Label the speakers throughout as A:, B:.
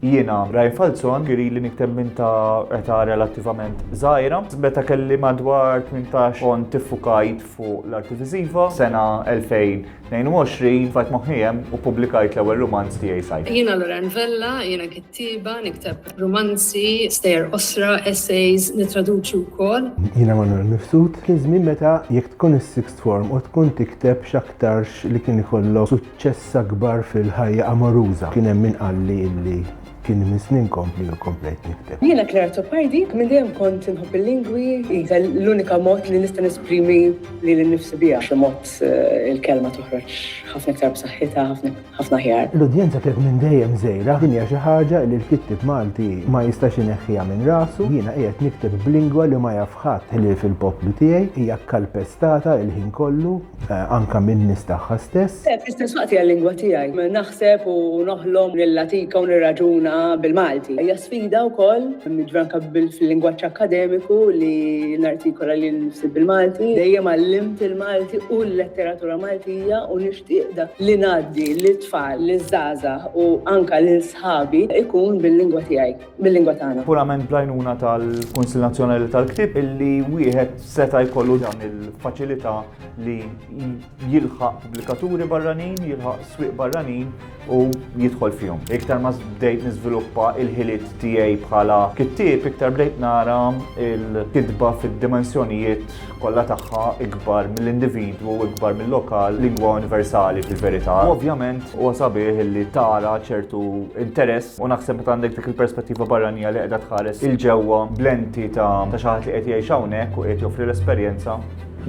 A: Jiena, Ryan Falzon, ilili nikteb minn ta' età relattivament żgħira. Meta kelli madwar tmintax kont iffukajt fuq l-arti viżiva. F'sena 2022 tfajt moħħi hemm u ppubblikajt l-ewwel rumanz tiegħi Sajf. Jiena Lorraine Vella,
B: jiena kittieba, nikteb rumanzi, stejjer qosra, essays, nittraduċi wkoll. Jiena Manuel Mifsud,
C: kien żmien meta jekk tkun is-sixth form u tkun tikteb x'aktarx li kien ikollok Ċessa kbar fil-ħajja amoruża. Kien hemm min qalli illi kien minn snin kompli u komplejt nikteb. Jiena Claire Azzopardi,
D: minn dejjem kont inħobb il-lingwi, qisha l-unika mod li nista' nesprimi lili nnifsi biha. B'xi mod il-kelma toħroġ ħafna iktar b'saħħitha, ħafna aħjar. L-udjenza kienet minn dejjem
C: żgħira. Din hija xi ħaġa li l-kittieb Malti ma jistax ineħħiha minn rasu. Jiena qiegħed nikteb b'lingwa li ma jaf ħadd ħlief il-poplu tiegħi. Hija kkalpestata l-ħin kollu. eh, anka min-nies tagħha stess. Eh, fl-istess waqt hija l-lingwa
D: tiegħi. Naħseb u noħlom nillatika u nirraġuna bil-Malti. Hija sfida wkoll nidranka fil-lingwaġġ akademiku li nartikola li nsib bil-Malti. Dejjem għallimt il-Malti u l-letteratura Maltija u nixtieq dak li ngħaddi lit-tfal, liż-żgħażagħ u anka lil sħabi ikun bil-lingwa tiegħi. bil-lingwa tagħna. Purament blajnuna
A: tal-Kunsil Nazzjonali tal-Ktib illi wieħed seta' jkollu dan il-faċilità li jilħaq pubblikaturi barranin, jilħaq swieq barranin u jidħol fihom. Iktar ma bdejt niżviluppa il-ħiliet tiegħi bħala kittieb, iktar bdejt nara il-kitba fid-dimensjonijiet kollha tagħha ikbar mill-individwu u ikbar mil-lokal, lingwa universali fil-verità. U ovvjament huwa sabiħ li tara ċertu interess u naħseb meta għandek dik il-perspettiva barranija li qiegħda tħares il-ġewwa blenti ta' ta' xi ħadd li qed jgħix hawnhekk u qiegħed joffri l-esperjenza,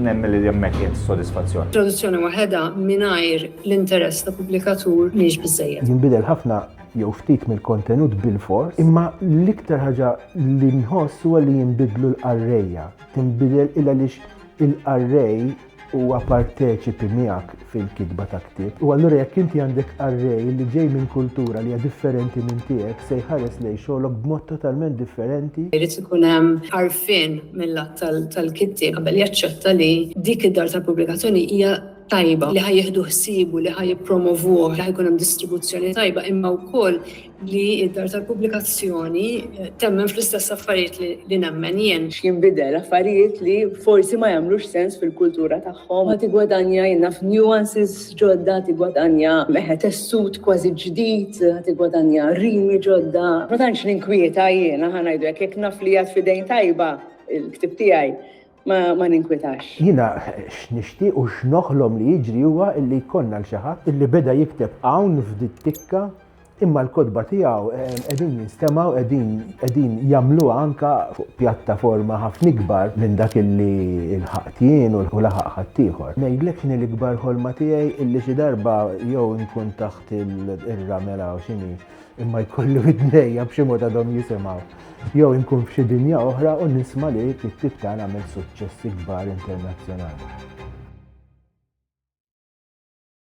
A: nemmen li hemmhekk hija s-sodisfazzjon. Traduzzjoni waħedha
B: mingħajr l-interess ta' pubblikatur mhix biżżejjed. Jinbidel ħafna
C: jew ftit mill-kontenut bilfors, imma l-iktar ħaġa li nħoss huwa li jinbidlu l-qarrejja. Tinbidel il għaliex il-qarrej huwa parteċipi miegħek fil-kitba ta' ktieb. U allura jekk inti għandek qarrej li ġej minn kultura li hija differenti minn tiegħek se jħares lejn xogħlok b'mod totalment differenti. Irid ikun hemm
B: għarfien mil-lat tal-kittieb qabel jaċċetta li dik id-dar tal-pubblikazzjoni hija tajba, li ħa jieħdu ħsiebu, li ħa jippromovuh, li ħa jkun hemm distribuzzjoni tajba imma wkoll li d-dar tal-pubblikazzjoni temmen fl-istess affarijiet li nemmen jien. X'jinbidel? Affarijiet
D: li forsi ma jagħmlux sens fil-kultura tagħhom. Ma tiggwadanja, jien naf, nuances ġodda, tiggwadanja tessut kważi ġdid, tiggwadanja rimi ġodda. Ma tantx ninkwieta jiena, ħa ngħidu hekk, jekk naf li qiegħed f'idejn tajba l-ktieb tiegħi. ma ninkwitax. Jiena
C: x'nixtieq u x'noħlom li jiġri huwa illi jkollna l xi ħadd illi beda jikteb hawn f'dit-tikka imma l-kotba tiegħu qegħdin jinstemgħu qegħdin qegħdin jagħmluha anke fuq pjattaforma ħafna ikbar minn dak illi lħaqt jien u laħaq ħaddieħor. Ngħidlek x'inhi l-ikbar ħolma tiegħi illi xi darba jew inkun taħt ir-ramel hawn x'inhi imma jkollu id-dnejja b'xi mod għadhom jisimgħu. Jew inkun f'xi dinja oħra u nisma' li t-tip tagħna għamel suċċessi kbar internazzjonali.